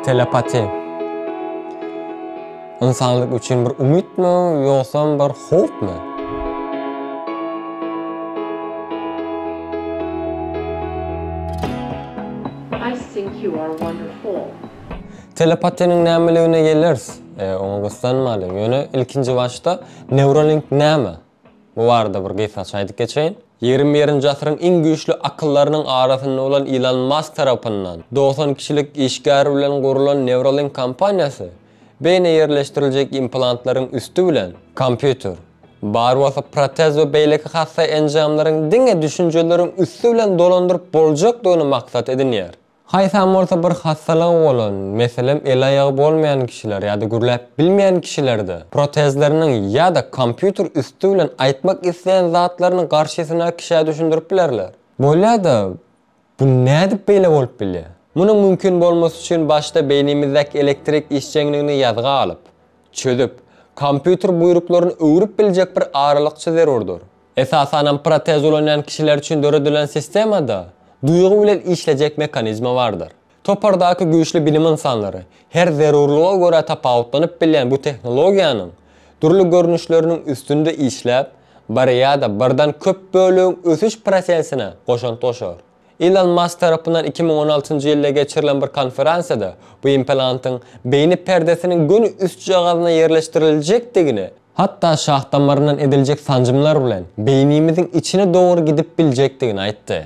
Telepati. Insanlyk üçin bir umyt mı, yoksa bir hop mı? I think you are wonderful. Telepatiniň nämeligine gelers. Oňa gyssanmaly. Ýöne ilkinji başda Neuralink näme? Bu barada bir gysgaça aýdyp geçeýin. Ýigrimi birinji asyryň iň güýçli akyllarynyň arasynda bolan Ilon Mask tarapyndan dogsan kişilik işgär bilen gurlan Neuralink kompaniýasy beýnä ýerleşdiriljek implantlaryň üsti bilen, kompýuter, bar bolsa protez we beýleki hassa enjamlaryň diňe düşünjeleriň üsti bilen dolandyryp boljakdygyny maksat edinýär. Haýsam bolsa bir hassalygy bolan, meselem, el-aýagy bolmaýan kişiler ýa-da gürläp bilmeýän kişilerde protezleriniň ýa-da kompýuter üsti bilen aýtmak isleýän zatlaryny garşysyna kişä düşündirip bilerler. Bolýa-da, bu nädip beýle bolup bilýär? Munuň mümkin bolmasy üçin başda beýnimizdäki elektrik işjeňligini ýazga alyp, çözüp, kompýuter buýruklaryny öwrüp biljek bir aralykçy zerurdyr. Esasanam protez ulanýan kişiler üçin döredilen sistemada duýgy bilen işlejek mekanizma bardyr. Topardaky güýçli bilim ynsanlary her zerurlyga görä tapawutlanyp bilýän bu tehnologiýanyň dürli görnüşleriniň üstünde işläp, bir ýa-da birden köp bölegiň ösüş prosesine goşant goşar. Ilon Mask tarapyndan iki müň on altynjy ýylda geçirilen bir konferensiýada bu implantyň beýni perdesiniň göni üstjagazyna ýerleşdiriljekdigini, hatda şah damaryndan ediljek sanjymlar bilen beýnimiziň içine dogry gidip biljekdigini aýtdy.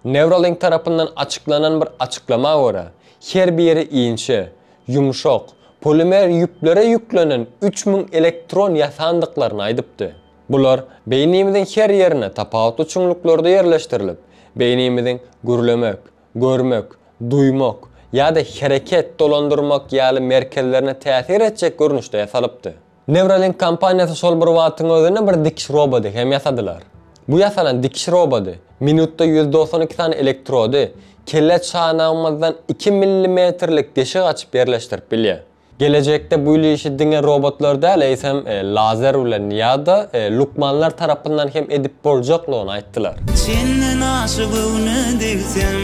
Neuralink tarapyndan açyklanan bir açyklama görä, her biri inçe, ýumşak, polimer ýüplere ýüklenen üç müň elektron ýasandyklaryny aýdypdy. Bular beýnimiziň her ýerine tapawutly çuňluklerde ýerleşdirilip, beýnimiziň gürlemek, görmek, duýmak ýa-da hereket, dolandyrmak ýaly merkezlerine täsir etjek görnüşde ýasalypdy. Neuralink kompaniýasy şol bir wagtyň özünde bir dikiş roboty hem ýasadylar. Bu ýasalan dikiş roboty minutda ýüz dogsan iki sany elektrody kelle çanagymyzdan iki millimetrlik deşik açyp ýerleşdirip bilýär. Gelejekde bu işi diňe robotlar däl, eýsem, lazer bilen ýa-da lukmanlar tarapyndan hem edip boljaklygyny aýtdylar. Çenden aşa göwne degsem,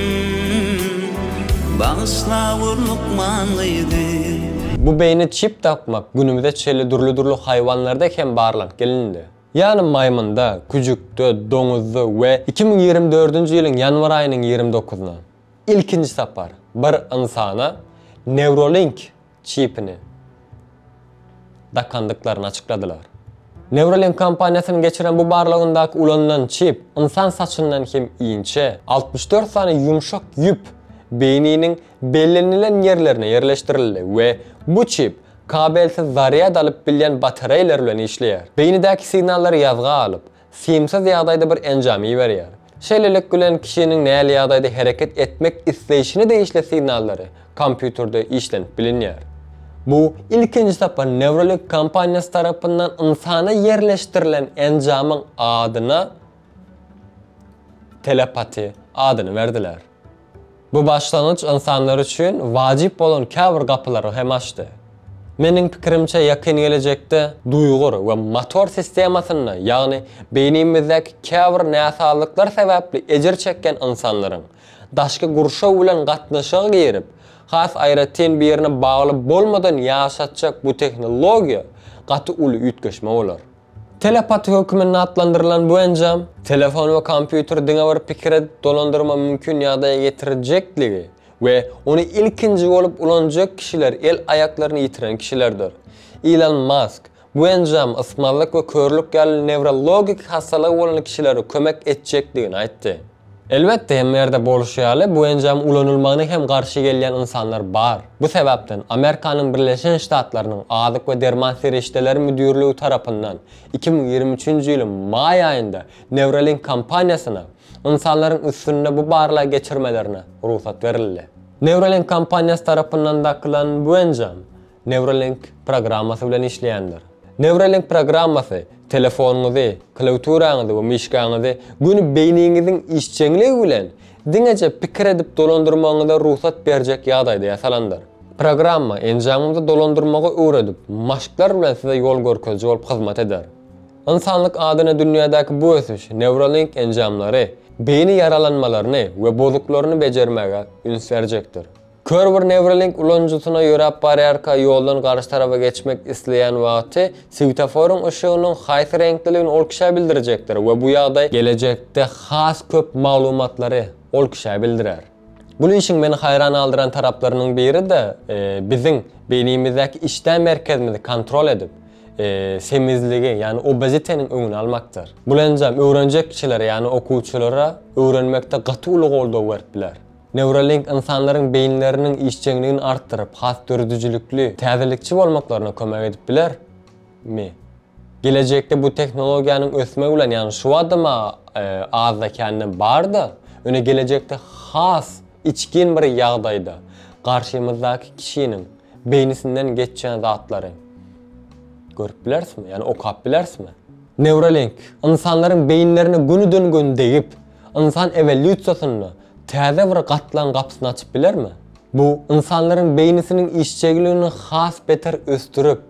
bagyşla gör lukman gyzy. Bu beýni çip dakmak günümize çenli dürli-dürli haýwanlarda hem barlanyp gelindi. Ýagny maýmynda, küjükde, doňuzda we iki müň ýigrimi dördünji ýylyň ýanwar aýynyň ýigrimi dokuzyna, Ilkinji sapar bir ynsana Neuralink çipini dakandyklaryny açykladylar. Neuralink kompaniýasynyň geçiren bu barlagyndaky ulanylan çip ynsan saçyndan hem inçe, altmyş dört sany ýumşak ýüp beýniniň bellenilen ýerlerine ýerleşdirildi we bu çip kabelsiz zarýad alyp bilýän batareýalar bilen işleýär. Beýnidäki signallary ýazga alyp, simsiz ýagdaýda bir enjam iberýär. Şeýlelik bilen kişiniň näli ýagdaýda hereket etmek isleýşine degişli signallary kompýuterde işlenip bilinýär. Bu ilkinji sapar Neuralink kompaniýasy tarapyndan ynsana ýerleşdirilen enjamyň adyna Telepati adyny berdiler. Bu başlangyç ynsanlar üçin wajyp bolan käbir gapylary hem açdy. Meniň pikirimçe ýakyn gelejekde duýgur we motor sistemasynda ýagny beýnimizdäki käbir näsazlyklar sebäpli ejir çekýän ynsanlaryň daşky gurşaw bilen gatnaşyga girip has aýratyn birine bagly bolmadan ýaşatjak bu tehnologiýa gaty uly üýtgeşme bolar. Telepaty hökmünde atlandyrylan bu enjam, telefon we kompýuteri diňe bir pikire dolandyrma mümkin ýagdaýa getirjekdigi we ony ilkinji bolup ulanjak kişiler el-aýaklaryny ýitiren kişilerdir. Ilon Mask, bu enjam ysmazlyk we körlük ýaly newrologik hassalygy bolan kişilere kömek etjekdigini aýtdy. Elbetde, hemme ýerde bolşy ýaly, bu enjam ulanylmagyna hem garşy gelýän ynsanlar bar. Bu sebäpden, Amerikanyň Birleşen Ştatlarynyň Azyk we derman serişdeleri müdirligi tarapyndan iki müň ýigrimi üçünji ýylyň maý aýynda Neuralink kompaniýasyna ynsanlaryň üstünde bu barlagy geçirmelerine rugsat berildi. Neuralink kompaniýasy tarapyndan dakylan bu enjam Neuralink programmasy bilen işleýändir. Neuralink programmasy telefonyňyzy, klawiaturaňyzy we myşkaňyzy göni beýniňiziň işjeňligi bilen diňeje pikir edip dolandyrmagyňyza rugsat berjek ýagdaýda ýasalandyr. Programma enjamymyzy dolandyrmagy öwredip, maşklar bilen size ýol görkeziji bolup hyzmat eder. Ynsanlyk adyna dünýädäki bu ösüş Neuralink enjamlary, beýni ýaralanmalaryny we bozuklaryny bejermäge üns berjekdir. Kör bir Neuralink ulanyjysyna ýöräp barýarka ýoldan garşy tarafa geçmek isleýän wagty swetoforyň yşygynyň haýsy reňkliligini ol kişä bildirjekdir we bu ýagdaý gelejekde has köp maglumatlary ol kişä bildirer. Bul işiň meni haýran galdyran taraplarynyň biri-de biziň beýnimizdäki işdä merkezimizi kontrol edip, semizligi, ýagny obeziteniň öňüni almakdyr. Bul enjam öwrenjek kişilere, ýagny okuwçylara öwrenmekde gaty uly goldaw berip biler. Neuralink ynsanlaryň beýinleriniň işjeňligini artdyryp, has döredijilikli, täzelikçi bolmaklaryna kömek edip bilermi? Gelejekde bu tehnologiýanyň ösmegi bilen, ýagny şu badam azda-kände bar-da, ýöne gelejekde has içgin bir ýagdaýda garşymyzdaky kişiniň beýnisinden geçýän zatlary görüp bilerismi, ýagny okap bilerismi? Neuralink ynsanlaryň beýinlerine gönüden-göni degip, Ynsan ewolýusiýasynda täze bir gatlagyň gapysyny açyp bilermi? Bu ynsanlaryň beýnisiniň işjegiligini has beter ösdürip,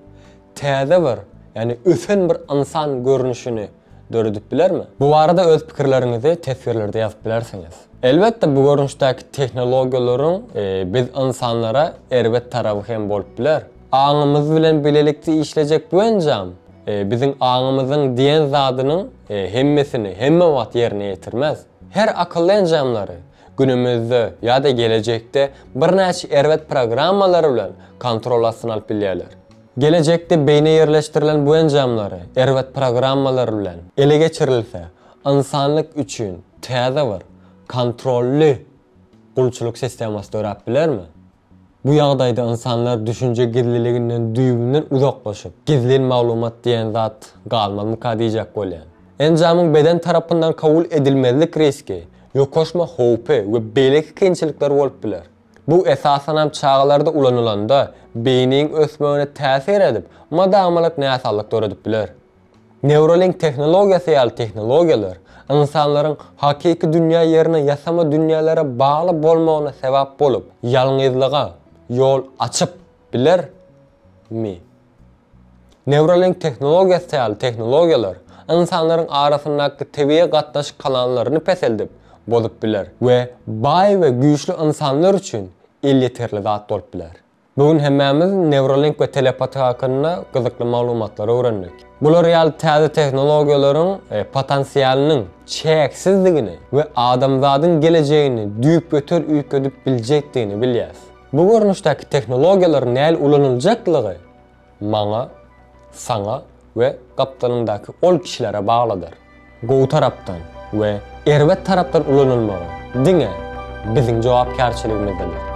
täze bir, ýagny ösen bir ynsan görnüşini döredip bilermi? Bu barada öz pikirleriňizi teswirlerde ýazyp bilersiňiz. Elbetde, bu görnüşdäki tehnologiýalaryň biz ynsanlara erbet tarapy hem bolup biler. Aňymyz bilen bilelikde işlejek bu enjam biziň aňymyzyň diýen zadynyň Hemmesini hemme wagt ýerine ýetirmez. Her akylly enjamlary günümizde ýa-da gelejekde birnäçe erbet programmalary bilen kontrol astyna alyp bilýärler. Gelejekde beýnä ýerleşdirilen bu enjamlary erbet programmalar bilen ele geçirilse, ynsanlyk üçin täze bir kontrolly gulçulyk sistemasy döräp bilermi? Bu ýagdaýda ynsanlar düşünje gizliliginden düýbünden uzaklaşyp, gizlin maglumat diýen zat galmazmyka diýjek bolýan. Enjamyň beden tarapyndan kabul edilmezlik riski, ýokaşma howpy we beýleki kynçylyklar bolup biler. Bu esasanam çagalarda ulanylanda, beýniň ösmegine täsir edip, mada-amalat näsazlyk döredip biler. Neuralink tehnologiýasy ýaly tehnologiýalar ynsanlaryň hakyky dünýä ýerine ýasama dünýälere bagly bolmagyna sebäp bolup, ýalňyzlyga ýol açyp bilermi? Neuralink tehnologiýasy ýaly tehnologiýalar ynsanlaryň arasyndaky tebigy gatnaşyk kanallaryny peseldip, bozup biler we baý we güýçli ynsanlar üçin elýeterli zat bolup biler. Bu gün hemmämiz Neuralink we telepatiýa hakynda gyzykly maglumatlary öwrendik. Bular ýaly täze tehnologiýalaryň potensialynyň çäksizdigini we adamzadyň gelejegini düýpgöter üýtgedip biljekdigini bilýäs. Bu görnüşdäki tehnologiýalaryň näl ulanyljaklygy maňa, saňa we gapdalyňdaky ol kişilere baglydyr. Gowy tarapdan we erbet tarapdan ulanylmagy diňe biziň jogapkärçiligimizdedir.